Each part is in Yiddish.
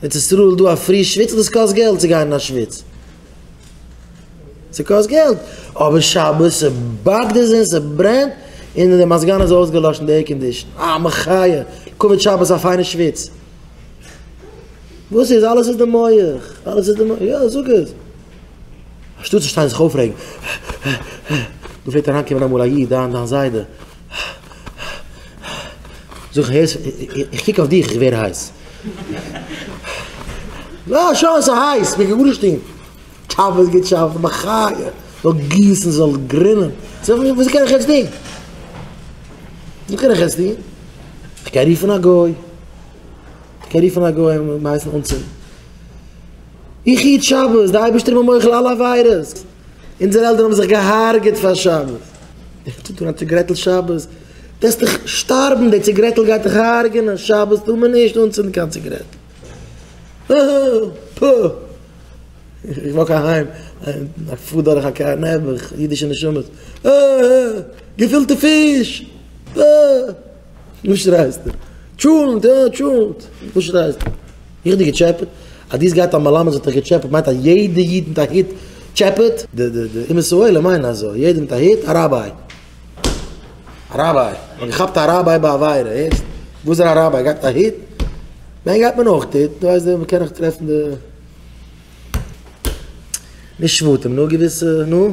ארץ ישראל דא א פרי שוויץ און עס קאסט געלט צו גיין אין א שוויץ ס'קאסט געלט אבער שבת ס'באקט עס און ס'ברענט און די מזגן איז אויסגעלאשן די עירקאנדישן אה מחיה כבוד שבת א פיינע שוויץ וואס איז אלעס איז די מח אלעס איז די מח יא זאג עס אנשטאט צו שטיין זיך אויפרעגן דא פלעגט אריינקומען אמאל א איד דיין זיידע. זאג איך הערסט? איך קוק אויף דיך איך ווער הייס. יא שוין ס'איז הייס מ'קען גארנישט טון. טשאפעס געטשאפט בחיי זאל גיסן זאל גרינען. זאג איך וואס קען איך יעצט טון? וואס קען איך יעצט טון? איך קען רופן א גוי. איך קען רופן א גוי און הייסן אנצינדן. איך איד שבת די אייבערשטער מוחל על עבירות. אונזערע עלטערן האבן זיך געהארגעט פאר שבת, ווער טוט אן א ציגרעטל שבת? וועסט דיך שטארבן, די ציגרעטל גייט דיך הרג'ענען, שבת טאר מען נישט אנצינדן קיין ציגרעטל. פוה! איך וואק אהיים, איך פאר דורך א קאר נעבעך, אידישע נשמות, אה! געפילטע פיש! אה! וואס שרייסטו? טשולנט, יא טשולנט, וואס שרייסטו? איך האב דיר געטשעפעט? אז דו האסט געהאט א מלמד וואס האט דיך געטשעפעט מיינט אז יעדע איד מיט א היט טשעפעט? די די די אומות העולם מיינען אזוי, יעדער מיט א היט א ראביי. א ראביי, מ'האט געכאפט א ראביי ביי עבירה, הערסט? וואס איז א ראביי? גייט מיט א היט? ניין גייט מען אויך היט, דו ווייסט ווען מ'קען נאך טרעפן די נישט שבטים נאר געוויסע, נו?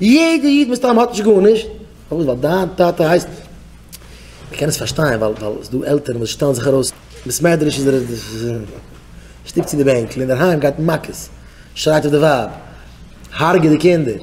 יעדע איד מסתם האט נישט גארנישט, פארוואס ווייל דיין טאטע הייסט, איך קען עס פארשטיין ווייל ווייל עס איז דא עלטערן וואס שטעלן זיך ארויס, ביסמעדרעש איז ער שטופט צו די בענקל, אינדערהיים גייט מען מכות, שרייט אויף די ווייב, הרג'עט די קינדער.